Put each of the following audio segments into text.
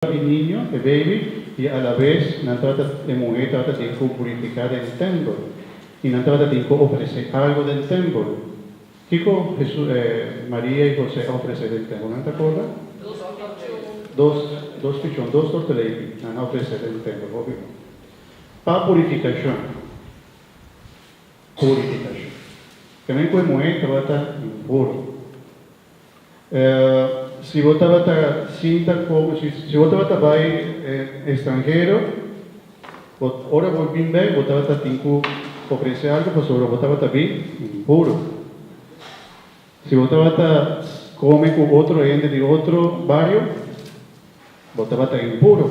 pa e niño, e baby, i alabes nan trata e muhé trata tin ku purifiká den tèmpel i nan trata tin ku ofresé algu den tèmpel. Kiko Maria i José a ofresé den tèmpel? Nan ta akorda? Dos pichon. Dos pichon, dos torteleiki nan a ofresé den tèmpel, hopi. Pa purifikashon. Purifikashon. Ke men ku e muhé tabata impuro. Si bo tabata sinta con, si bo tabata bay extranhero, bo ora bo bin bek bo tabata tin cu ofrece algo pasobra bo tabata bin puro. Si bo tabata come cu otro hende di otro bario, bo tabata impuro.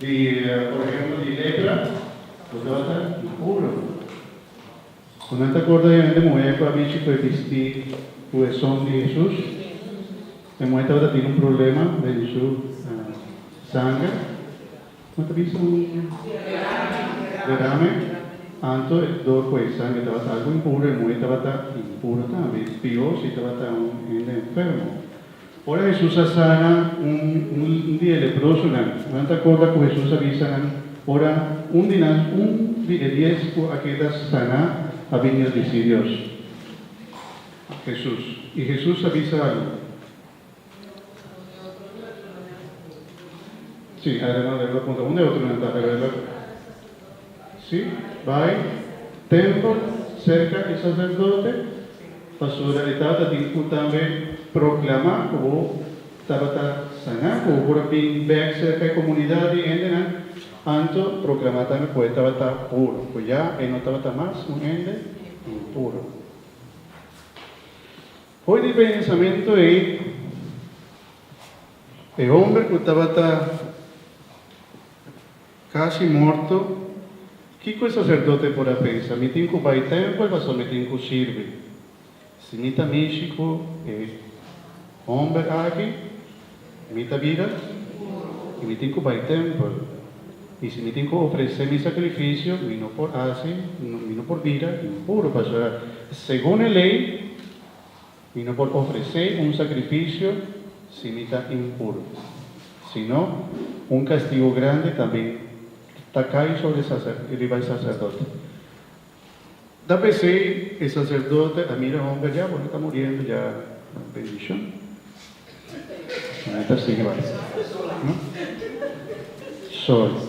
Di por ehemplo di lepra, ku ta ta impuro. Ku nan ta akorda di un hende muhé ku a bichi ku e bistí ku e son di Hesus, e muhé tabata tin un problema den su sanger, kuma ta bisa? un derame, anto dor ku e sanger tabata algu impuro, e muhé tabata impuro tambe, pió si tabata un hende enfermo. Ora Hesus a sana un di e leprosonan, nan ta korda ku Hesus a bisa nan ora un di nan, un di e dies ku a keda saná, a bini el di Sirios Hesus. I Hesus a bisa algu? Si, Adriano Rebelo punta, Un di e otronan ta, pero el a. Si, bai tempel serka e saserdote, pasobra e tata tin ku tambe proklamá ku bo tabata saná, ku bo por a bin bèk serka e komunidat di hendenan, anto proklamá tambe ku e tabata puru, ku ya e no tabata mas un hende impuru. Hopi di e pensamentu ei, e hòmber ku tabata. Casi morto, kico e sacerdote por a pensa? Mi tin cu bay tempel pasobra mi tin cu sirbi. Si mi ta mishi cu e homber aki, mi ta bira y mi tin cu bay tempel. Y si mi tin cu ofrece mi sacrificio, mi no por haci, mi no por bira impuro, pasobra segun e ley Mi no por ofresé un sakrifisio si mi ta impuro, sino un kastigu grandi ta bin ta kai sobre riba e saserdote. Ta pesei e saserdote a mira homber dja, bo no ta muriendo dja bendishon. Bo no ta sigui bai. Sorry.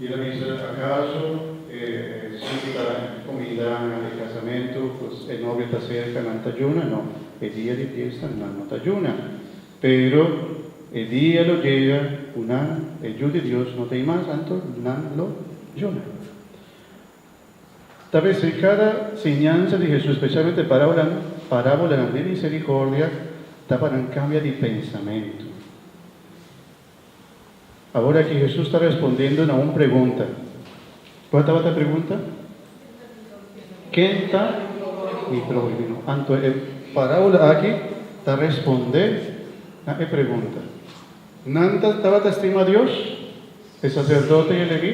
I lo bisa, Akaso e sinta i kuminda na e kasamentu ku e novio ta serka nan ta juna? No, e dia di fiesta nan no ta juna. Pero e dia lo yega ku nan, e Yu di Dios, no ta ei mas, anto nan lo juna. Ta ves, e kada siñansa di Hesus, spesialmente e parábolanan, parábolanan di miserikordia, ta pa nan kambia di pensamentu. Awor aki Hesus ta respondendo na un pregunta. Ku a tabata e pregunta? Ken ta mi próhimo? Anto e parábola aki ta respondé na e pregunta. Nan tabata stima Dios, e saserdote i e leví?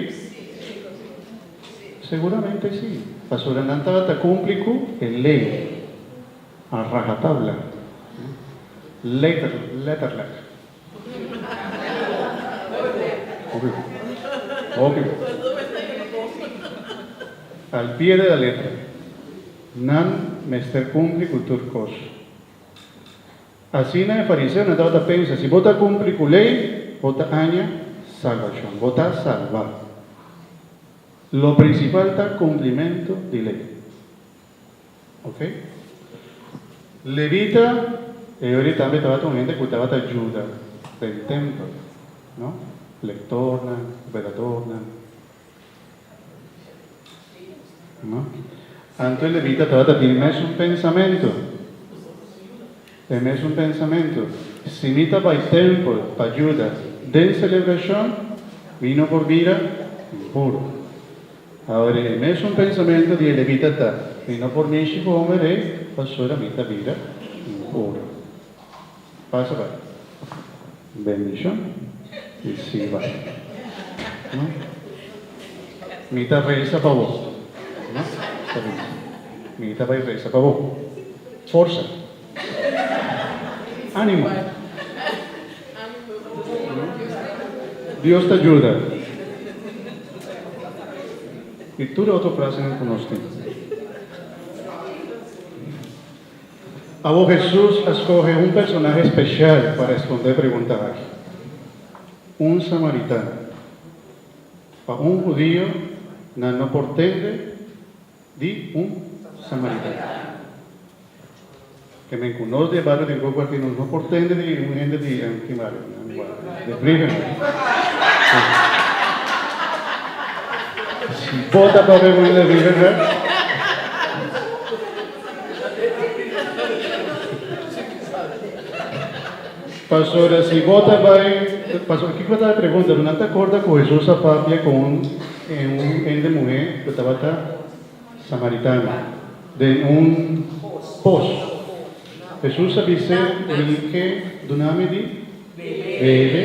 Seguramente sí, pasobra nan tabata kumpli ku e lei a rahatabla, letterlijk. Al pie de la letra. Nan mester kumpli ku tur kos. Asina e fariseonan tabata pensa, Si bo ta kumpli ku lei, bo ta haña salbashon, bo ta salbá. Lo prinsipal ta kumplimentu di lei. Oke. Levita, e oir tambe tabata un hende ku tabata juda den tempel, no? Lektornan, veladornan, no? Anto e levita tabata bini mesun pensamentu. E mesun pensamentu, si mi ta bai tempel pa juda den selebrashon, mi no por bira impuru. Awor e mesun pensamentu di e levita ta, Mi no por mishi ku omi rei, pasobra mi ta bira impuru. Pasa bai. Bendicion y sigui bay no mi ta reza pa bo no esta bien mi ta bay reza pa bo forsa animo Dios ta juda y tur otro placenan cu nos tin. Awor Hesus a skohe un personahe speshal pa respondé pregunta aki, un samaritano. Pa un hudio nan no por tende di un samaritano. Te men ku nos di e bario den Koku aki nos no por tende di un hende di ki bario? De Vrijgenhuis. Bota papia ku hende di Vrijgenhuis. Pasobra si bo ta bai, pasobra kiko ta e pregunta? Bo no ta akorda ku Hesus a papia ku un hende muhé ku tabata samaritano den un pos? Hesus a bis'é, Mi ke duna mi di bebe.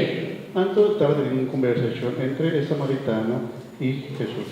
Anto tabata tin un kombersashon entre e samaritano i Hesus.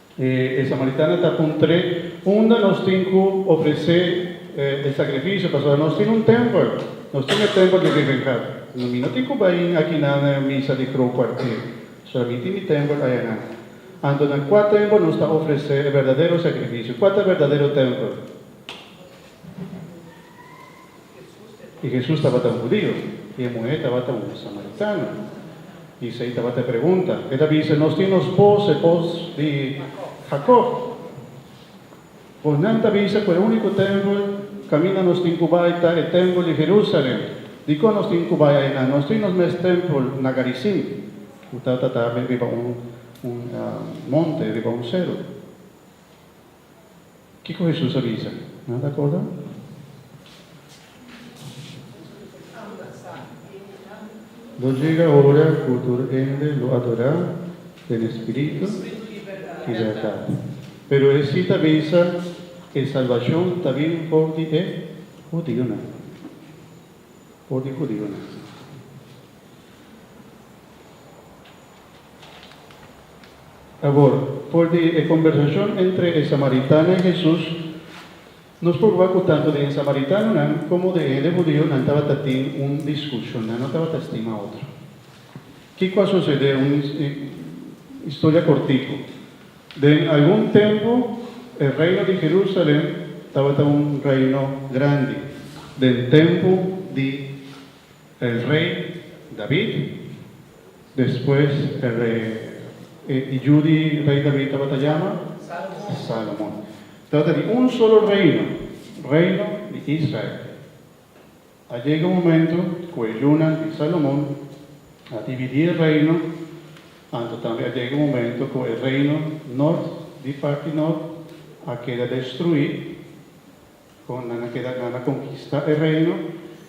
E samaritana ta puntr'é, Unda nos tin ku ofresé e sakrifisio? Pasobra nos tin un tèmpel, nos tin e tèmpel di Revengad. Mi no tin ku bayin akinan na e misa di grou kuarté, pasobra mi tin mi tèmpel ayanan. Anto na kua tèmpel nos ta ofresé e berdadero sakrifisio? Kua ta e berdadero tèmpel? I Hesus tabata un hudiu, i e muhé tabata un samaritano. I esei tabata e pregunta. E ta bisa, Nos tin nos bos, e bos di Jakob. Bo nan ta bisa ku e úniko tèmpel kaminda nos tin ku bai ta e tèmpel di Herúsalèn. Dikon nos tin ku bai ainan? Nos tin nos mes tèmpel na Garizim, ku ta ta riba un monte, riba un seru. Kiko Hesus a bisa? Nan ta akorda? Lo jega ora ku tur hende lo adorá den e spiritu i bèrdat. Pero e sita a bisa, E salbashon ta bin for di e hudionan. For di hudionan. Awor, for di e kombersashon entre e samaritano i Hesus, nos por wak ku tantu den e samaritanonan komo den e hende hudio nan tabata tin un diskushon, nan no tabata estima otro. Kiko a susedé? Un historia kortiku. Den algun tempu e reino di Herúsalen tabata un reino grandi den tempu di. El rey David, despues el rey, e i yu di rey David tabata yama Salomon. Tabata di un solo reino, reino di Israel. A yega un momento ku e yunan di Salomon a dividí e reino, anto tambe a yega un momento ku e reino nort di parti nort a keda destruí, Kon nan a keda, nan a konkistá e reino,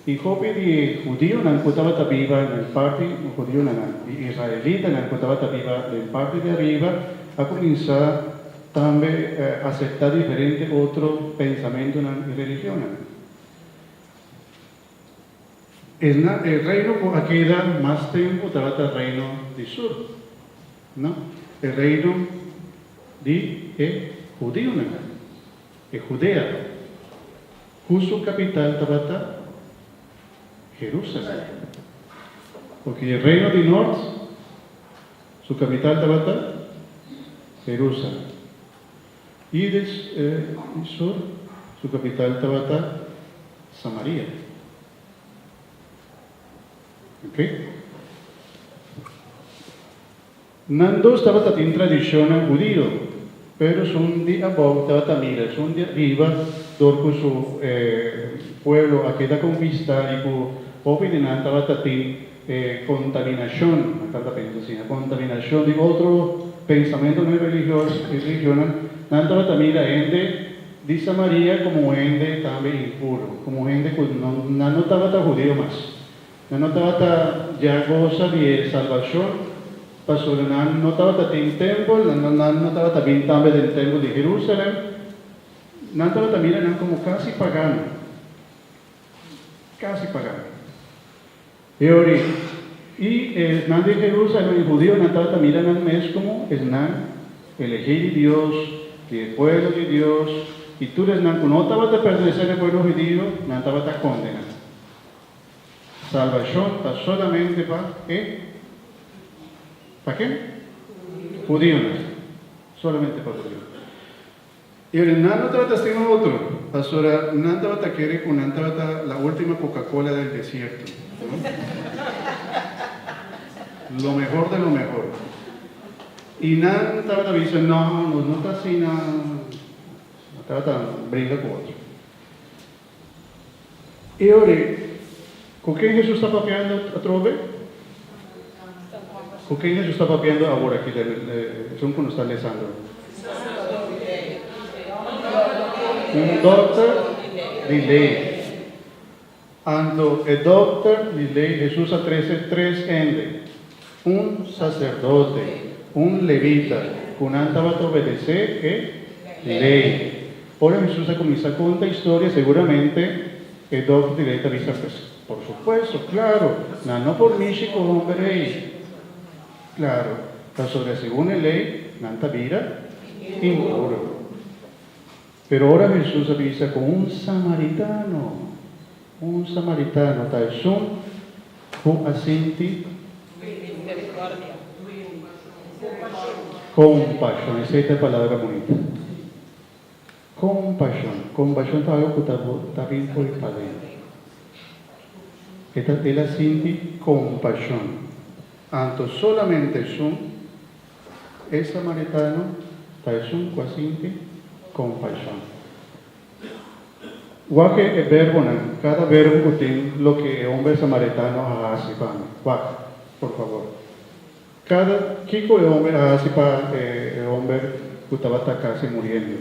i hopi di hudionan ku tabata biba den parti, hudionan nan, di israelitanan ku tabata biba den parti di ariba a kuminsá tambe aseptá diferente otro pensamentunan i religionnan. Esnan, e reino ku a keda mas tempu tabata reino di sur, no, e reino di e hudionan. E Judeano, ku su kapital tabata Jerusalen. Oke, e reino di nort, su kapital tabata Jerusalen. I e di sur, su kapital tabata Samaria. Oke. Nan dos tabata tin tradicionnan hudio, pero sun di abou tabata mira sun di ariba dor cu su pueblo a keda con vista y cu hopi di nan tabata tin e contaminacion, nan tabata pensa asina, contaminacion di otro pensamentonan religioso y religionnan, nan tabata mira hende di Samaria como un hende tambe impuro, como un hende cu nan no tabata hudio mas. Nan no tabata dja gosa di e salbacion, pasobra nan no tabata tin tempel, nan no tabata bin tambe den tempel di Jerusalem. Nan tabata mira nan como casi pagano, casi pagano. E ori y esnan di Jerusalem y judionan tabata mira nan mes como esnan elegi di Dios, di e pueblo di Dios, y tur esnan cu no tabata pertenece na e pueblo judio, nan tabata condena. Salbashon ta solamente pa e, pa ken? Hudionan, solamente pa hudionan. I ora nan lo trata stima otro, pasobra nan tabata kere ku nan tabata la ultima kokakola del desierto, no? Lo mehor de lo mehor. I nan tabata bisa, No, nos no ta asina, nan tabata bringa ku otro. E ora ku ken Hesus ta papiando atrobe? Ku ken Hesus ta papiando awor aki den e porshon ku nos ta lesando? Un dòkter di lei. Anto e dòkter di lei Hesus a trese tres hende Un saserdote, un levita, ku nan tabata obedesé e Lei. Ora Hesus a kuminsá konta historia, seguramente e dòkter di Lei ta bisa, Pues, por supuesto, klaru, nan no por mishi ku homber ei. Klaru, pasobra segun e Lei, nan ta bira impuru. Pero ora Hesus a bisa ku un samaritano, un samaritano ta esun ku a sinti kompashon. Esei ta e palabra bonito. Kompashon. Kompashon ta algu ku ta bin poi padentu. El a sinti kompashon. Anto solamente esun E samaritano ta esun ku a sinti kompaishon. Wak e berbonan, kada berbo ku tin loke e homber samaritano a hasi pa mi. Wak, por favor. Kada, kiko e homber a hasi pa e homber ku tabata kasi muriendo?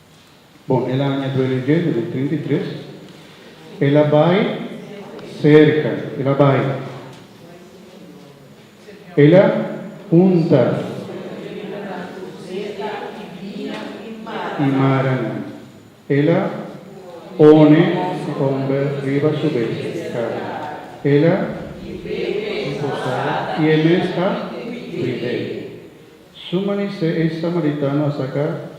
Bon, el a aña duele djenta den trinta i tres. El a bai serka, el a bai. El a hunta. I maranan. El a pone su omber riba su bestia, e kara. El a. I posa e mes a cuid'é. Su manisé e samaritano a saka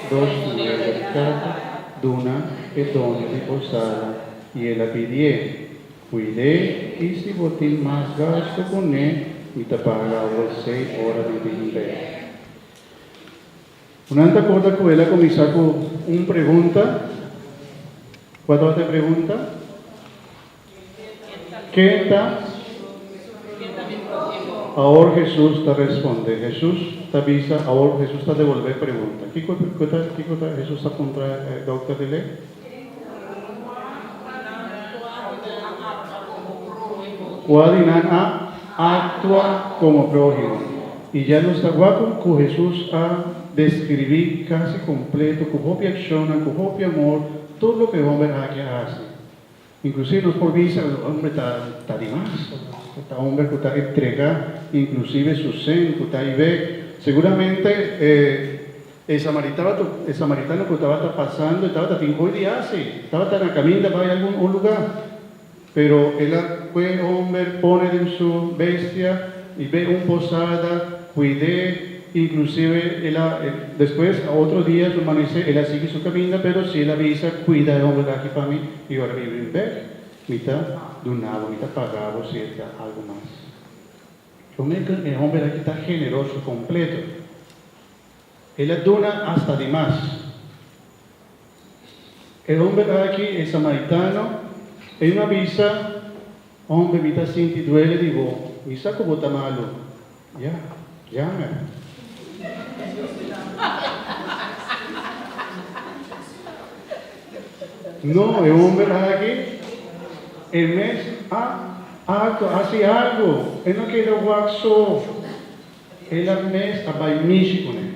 dos muneda di plata, duna e doño di posada, i el a pidié, Kuid'é, i si bo tin mas gastu ku n'é, mi ta paga abo esei ora mi bin bek. Bo nan ta akorda ku el a kuminsá ku un pregunta. Kua tabata e pregunta? Ken ta? Awor Hesus ta responde. Hesus ta bisa, awor Hesus ta devolbé e pregunta. Kiko ta, kiko ta Hesus ta puntra e dokter di lei? Kua di nan a aktua komo próhimo? I dja nos ta wak ku Hesus a deskribí kasi kompleto, ku hopi akshonnan, ku hopi amor, tur loke e hòmber aki a hasi. Inclusive nos por bisa cu homber ta di mas, ta homber cu ta entrega inclusive su sen cu ta ibe. Seguramente e samaritano cu tabata pasando e tabata tin coy di haci, e tabata na caminda bay algun un lugar, pero el a cue homber pone den su bestia y be un posada, cuide. Inclusive el a despues a otro dia su manesé el a sigui su caminda pero si el a bisa cuida e hombre aki pa mi y ora mi bring bek mi ta dunabo mi ta pagabo si el ta algo mas. Lo me cu e hombre aki ta generoso completo el a duna hasta di mas E homber aki, e samaritano, e un a bisa, Homber, mi ta sinti duele di bo, mi sa ku bo ta malu. Ya, jammer. No, e homber aki, e mes a akto hasi algu, e no keda wak so, el a mes a bai mishi kuné.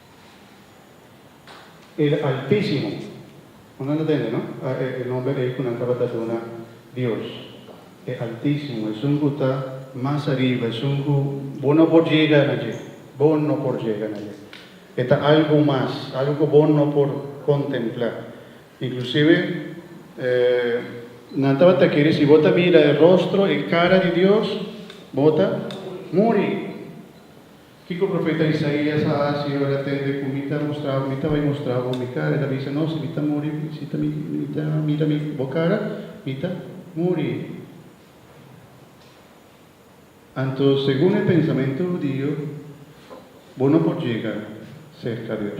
El Altísimo. Bo no ta tende no? A e nomber ei ku nan tabata duna Dios. E Altísimo, esun ku ta mas ariba, esun ku bo no por jega na dje. Bo no por jega na dje. E ta algu mas, algu ku bo no por kontemplá. Inklusive, nan tabata kere si bo ta mira e rostro, e kara di Dios, bo ta muri. Kiko profeta Isaías a hasi ora e tende ku mi ta mustra mi ta bai mustra bo mi kara? El a bisa, No, si mi ta muri, si ta mi mi ta mira mi bo kara, mi ta muri. Anto segun e pensamentu hudio, bo no por yega serka Dios.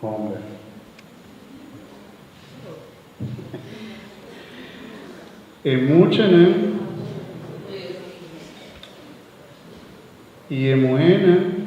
Homber. E muchanan i e muhernan